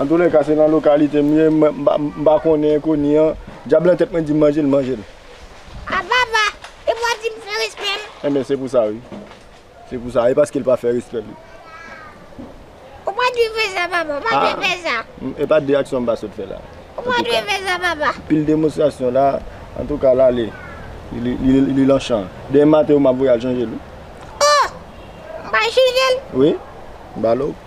Antoulèka se nan lokalite m ye m pa konnen enkoni an Dyab lan tèt mwen dim manje l manje l. A papa e mwen di m fè respè l. Enben se pou sa wi se pou sa e paske l pa fè respè l wi. Ou pa dwe fè sa papa ou pa dwe fè sa. E pa de aksyon m pa sot fè la. Ou pa dwe fè sa papa. Pil demonstrasyon la antouka l ale li lan chan demen maten ou map voye al chanje l wi. Oh m pral chanje l. Wi m ba l ok.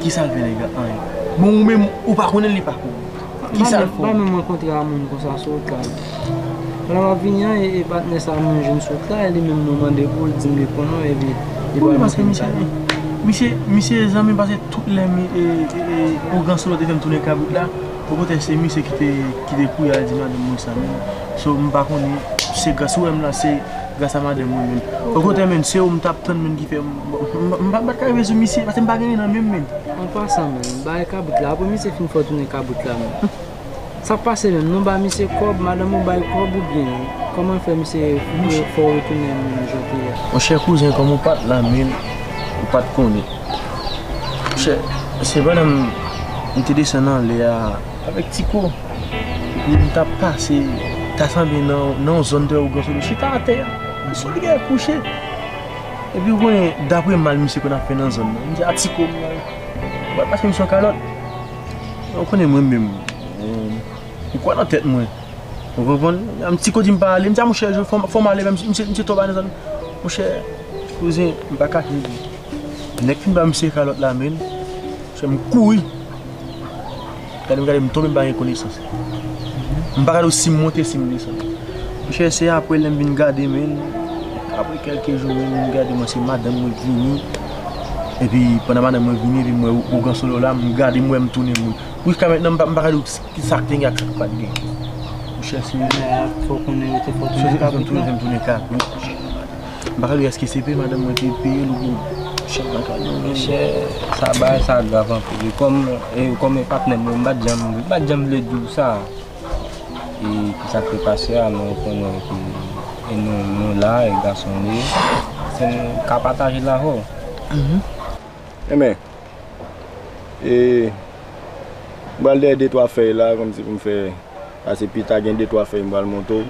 Kisal fè nèg lan anyen. Bon ou menm ou pa konnen li pa konnen. Kisal fè ou. Banm yon mwen kontre a moun konsa sou outraj. Pandan map vini an e patnè sa mwen jwenn sou outraj li menm mwen mande poul dim li konnen w epi li pral montre m kay la. Misye misye zanmim pase tout lè mi e e ougan solo te fèm tounen kabrit la bon poutèt se misye kite kite kouye al di madanm mwen sa menm so m pa konnen se gras ou wèm la se Gras a madanm mwen menm. Bon kote menn se ou m tap tann menn ki fè m m pa ka rive sou misye paske m pa gen nen nan menm menn. An pasan menn bay kabrit la apre misye fin fè w tounen kabrit la menn sak pase menm nou ba misye kòb madanm ou bay kòb oubyen kòman fè misye fè w retounen an menm jan w te ye a. Monchè kouzen kòm ou pat la menn ou pat konnen monchè se pandan m te desann anlè a. Avèk Tiko, epi m t ap pase, ta sanble nan yon zòn trè oganso, m chita atè, m sot gen yon kouche. Epi ou konnen, dapre mal misye konn ap fè nan zòn nan, m di a Tiko, ou pa pase m sou yon kalòt? Men ou konnen mwen menm, m kwè nan tèt mwen, ou konprann? Epi Tiko di m pa ale, m di a monchè, fò m ale, misye twò bay nan zòn nan. Monchè, kouzen, m pa kache ou, nèg fin ba misye kalòt la men, monchè m kouri. Gade m gade m tonbe m pa gen konesans M pa gade w si m monte si m desann M chèche apre lè m vin gade men Apre kèlke jou men m gade mwen se madanm mwen k vini Epi pandan madanm mwen vini epi m wè ougan solo la m gade m wè m tounen moun Pou jiska mètnan m pa gade w kisa k te gen ak sa k pa t gen M chèche Fè w konnen yo te fè w tounen kabrit non. M pa ka di eske se peye madanm mwen te peyel oubyen chèk lakay yo. Men chè sa bagay sa grav anpil e kòm e kòm e patnèm mwen m pat janm m pat janm vle diw sa e ki sa k te pase a men ou konnen ke e nou nou la e gason nou ye fò n ka pataje l avèw. Enben E m pral dèyè de twa fèy la kòmsi pou m fè pase pita gen de twa fèy m pral montre w.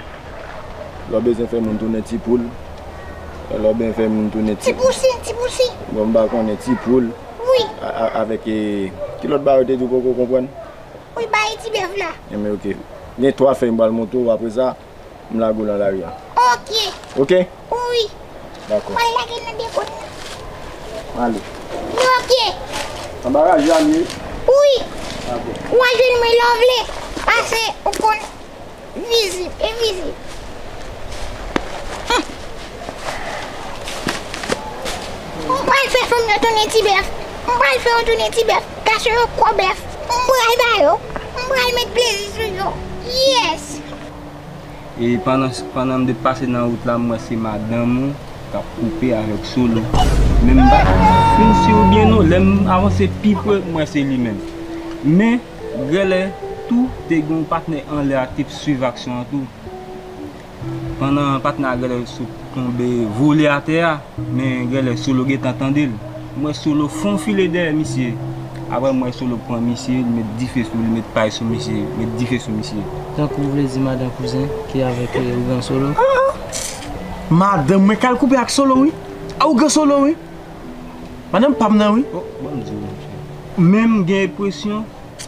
Lè w bezwen fè moun tounen ti poul. Lè w ben fè moun tounen ti. Ti pousin, ti pousin. Bon m pa konnen ti poul. Wi. Avèk e ki lòt bagay ou te di ou poko konprann? Wi bay ti bèf la. Enben ok. Gen twa fèy m pral montre w apresa. m lage w lan lari an. Ok. Ok? Wi. Dako. Mwen lage l nan depo n nan. Ale. Nou ok. Nan baraj la nou ye? Wi. Dako. Ou a jwenn mwen lè w vle. Pase ou konn vizib e vizib. M pral fè fanm yo tounen ti bèf. M pral fè yo tounen ti bèf. Kache yo kou bèf. M pral ba yo. M pral met plezi sou yo. Yes! E pandan m te pase nan wout la m wè se madanm ou k ap koupe avèk Solo. Men m pa fin si ou byen non, lè m avanse pi pre m wè se li menm. Men, gèlè tou te gen yon patnè anlè a k te suiv aksyon an tou. Pandan patnè a gèlè sot. Tonbe vole atè a, men genlè Solo gentan tande l. M wè Solo fon file dèyè misye. Aprè m wè Solo pran misye, li met dife sou li, met pay sou misye, met dife sou misye. Tankou ou vle di madan kouzen ki avèk ougan Solo? An! Madan mwen k al koupe ak Solo wi! A ougan Solo wi! Madan pa m nan wi! O! Ban m di w yon bagay. Menm gen enpresyon.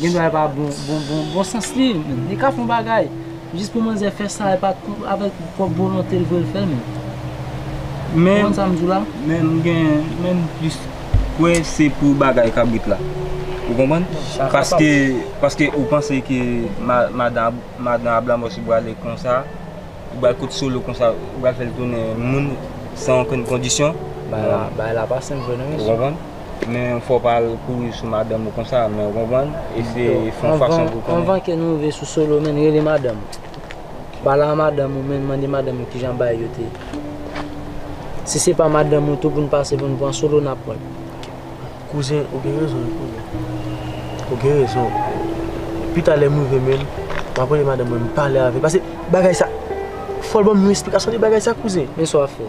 Gen dwa e pa bon bon bon sans li men li ka fon bagay jis pou manzè fè sa e pa avèk pwòp volonte l vle l fè l menm. Ou konprann sa m di w la? Men m gen men m plis kwè se pou bagay kabrit la ou konprann paske paske ou panse ke madan madan ablamòs ou pral lè konsa ou pral kot solo konsa ou pral fè l tounen moun san okenn kondisyon. Bagay la pa senp vre non mesye. Men ou fò pa al kouri sou madanm ou konsa men ou konprann eseye fon fason pou konnen. Anvan ke nou rive sou solo menn rele madanm ou. Pale a madanm ou menn mande madanm ou kijan bagay yo te ye. Si se pa madanm ou tou pou nou pase pou nou pran solo nap wè. Kouzen ou gen rezon wi kouzen. Ou gen rezon. Pita lèm rive menn map rele madanm mwen m pale avèl pase bagay sa fòl banm yon esplikasyon de bagay sa kouzen. Men sa wap fè.